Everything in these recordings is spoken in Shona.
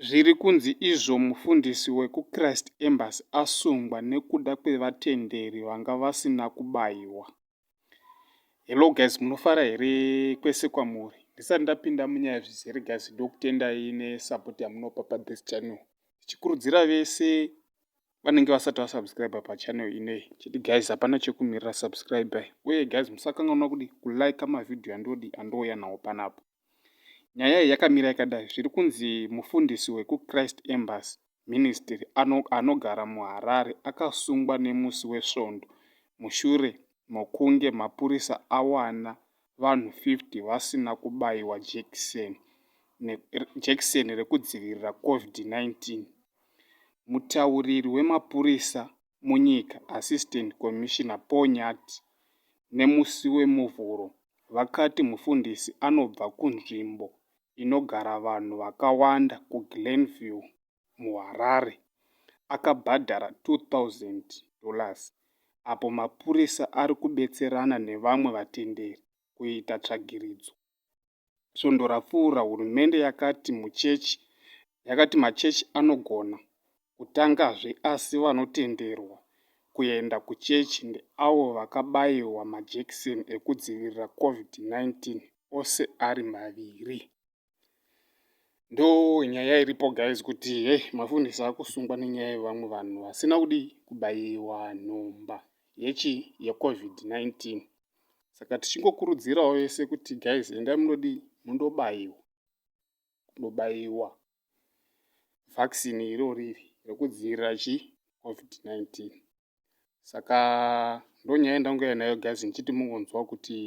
Zviri kunzi izvo mufundisi wekuChrist Embassy asungwa nekuda kwevatenderi vanga vasina kubayiwa. Hello guys, munofara here kwese kwamuri? Ndisati ndapinda munyaya zvizere guys, ndokutendai nesupport yamunopa pa this channel. Ndichikurudzira vese vanenge vasati vasubscribe pa channel ineyi. Chiti guys, hapana chekumirira subscribe. Uye guys, musakanganwa kudi kulike mavideo andodi andouya nawo panapa. Nyaya iyi yakamira yakadai zviri kunzi mufundisi wekuChrist Embassy Ministry anogara muHarare akasungwa nemusi weSvondo mushure mokunge mapurisa awana vanhu 50 vasina kubaiwa jekiseni jekiseni rekudzivirira COVID-19. Mutauriri wemapurisa munyika, Assistant Commissioner Paul Nyathi, nemusi weMuvhuro vakati mufundisi anobva kunzvimbo inogara vanhu vakawanda kuGlenview, muHarare, akabhadhara 2,000 dollars apo mapurisa ari kubetserana nevamwe vatenderi kuita tsvagiridzo. svondo rapfuura hurumende yakati muchechi yakati machechi anogona kutangazve asi vanotenderwa kuenda kuchechi ndeavo vakabaiwa majekiseni ekudzivirira covid-19 ose ari maviri ndo nyaya iripo guys kuti he mafundisi akusungwa nenyaya yevamwe vanhu vasina kudii kubaiwa nhomba yechi yecovid-19 saka tichingokurudzirawo vese kuti guys endai munodii mundobaiwa kunobaiwa vaccine iroriri rekudzivirira chi covid-19 saka ndonyaya yandangouya nayo guys ndichiti mungonzwa kuti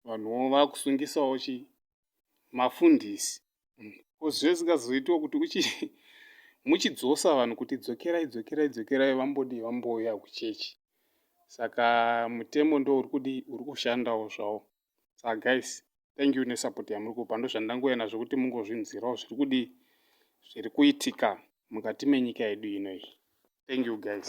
vanhuwo vakusungisawo chi mafundisi ko zviya zvisingazoitiwa kuti uchi muchidzosa vanhu kuti dzokerai dzokerai dzokerai vambodii vambouya kuchechi saka mutemo ndo uri kudii uri kushandawo zvawo saka guys thank you nesupport yamuri kupa ndozvandangouya nazvo kuti mungozvinzwirawo zviri kudii zviri kuitika mukati menyika yedu ino iyi thank you guys